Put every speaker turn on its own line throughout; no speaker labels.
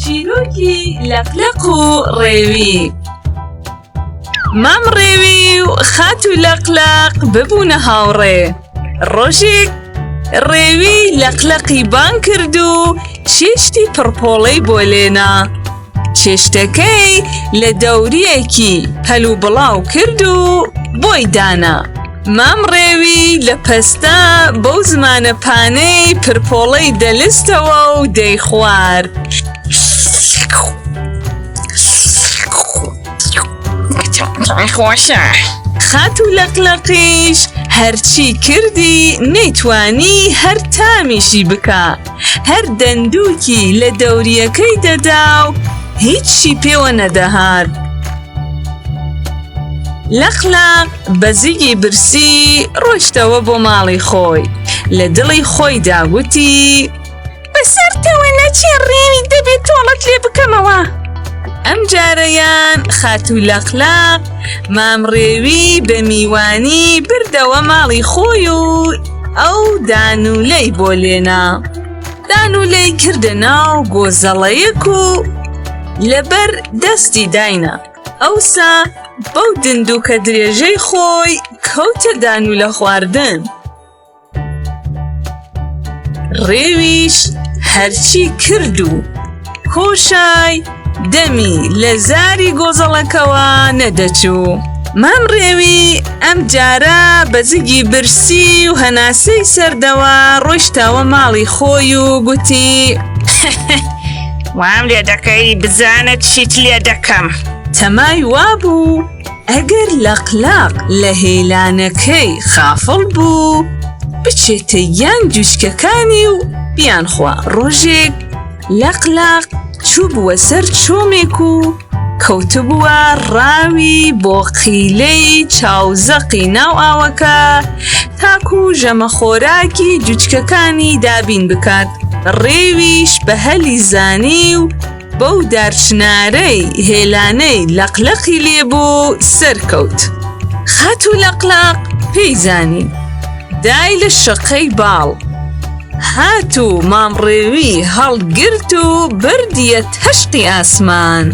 چیرۆکی لەقلەق و ڕێوی مام ڕێوی و خات و لەقلەق ببوونە هاوڕێ ڕۆژێک ڕێوی لەقلەقی بان کرد و چێشتی پڕپۆڵەی بۆ لێنا چێشتەکەی لە دەورییەکی هەل و بڵاو کرد و بۆی دانا. مام ڕێوی لە پەستە بەو زمانە پانەی پرپۆڵەی دەلستەوە و دەیخوارد.
خۆشە. خات و
لەقلەقیش هەرچی کردی نەیتوانی هەر تامیشی بکا. هەر دەندووکی لە دەورییەکەی دەدا و هیچی پێوە نەدەهات. لەقلەق بە زیگی برسی ڕۆشتەوە بۆ ماڵی خۆی لە دڵی خۆی داگوتی بەسەرتەوە نەچێ ڕێوی دەبێت تۆڵەت لێ بکەمەوە ئەم جارەیان خاتوو لەقلەق مام ڕێوی بە میوانی بردەوە ماڵی خۆی و ئەو دانوولەی بۆ لێنا دانوولەی کردە ناو بۆ زەڵەیەک و لەبەر دەستی داینا ئەوسا بەو دندووکە درێژەی خۆی کەوتە دانوولە خواردن ڕێویش هەرچی کرد و کۆشای دەمی لە زاری گۆزەڵەکەوە نەدەچوو. مام ڕێوی ئەم جارە بە زگی برسی و هەناسەی سەردەوە ڕۆیشتەوە ماڵی خۆی و گوتی
وام لێ دەکەی بزانە چیت لێ دەکەم تەمای
وابوو ئەگەر لە قلاق لە هێلانەکەی خافڵ بوو بچێتە یان جوچکەکانی و بیان خوا ڕۆژێک لەق لەق چوبووە سەر چۆمێک و کەوتبووە ڕاوی بۆقیلەی چاوزەقی ناو ئاوەکە تاکو ژەمە خۆراکی جوچکەکانی دابین بکات ڕێویش بە هەلی زانی و بەو دارچنارەی هێلانەی لەق لەقی لێبوو سەرکەوت خاتو لەق لەق پێی زانی دای لە شەقەی باڵ هات و مامڕێوی هەڵگرت و بردیە تەشقی ئاسمان.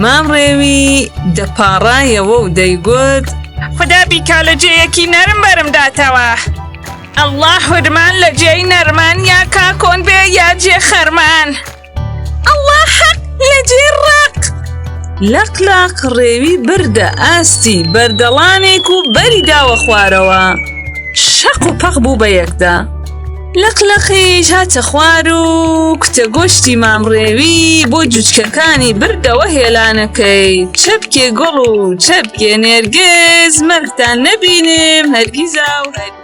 مامڕێوی دەپاڕایەوە و دەیگوت. خودا بیکا
لە جێیەکی نەرم بەرم داتەوە. ئەڵڵا حورمان لە جێی نەرمان یا کاکۆن بێ یا جێ خەرمان.
لەق لەق ڕێوی بردە ئاستی بەردەڵانێک و بەری داوە خوارەوە شەق و پەق بوو بە یەکدا لەق لەقیش هاتە خوار و کوتە گۆشتی مامڕێوی بۆ جوچکەکانی بردەوە هێلانەکەی چەپکێ گوڵ و چەپکێ نێرگز مەرتان نەبینم هەرگیزا و هەرگیز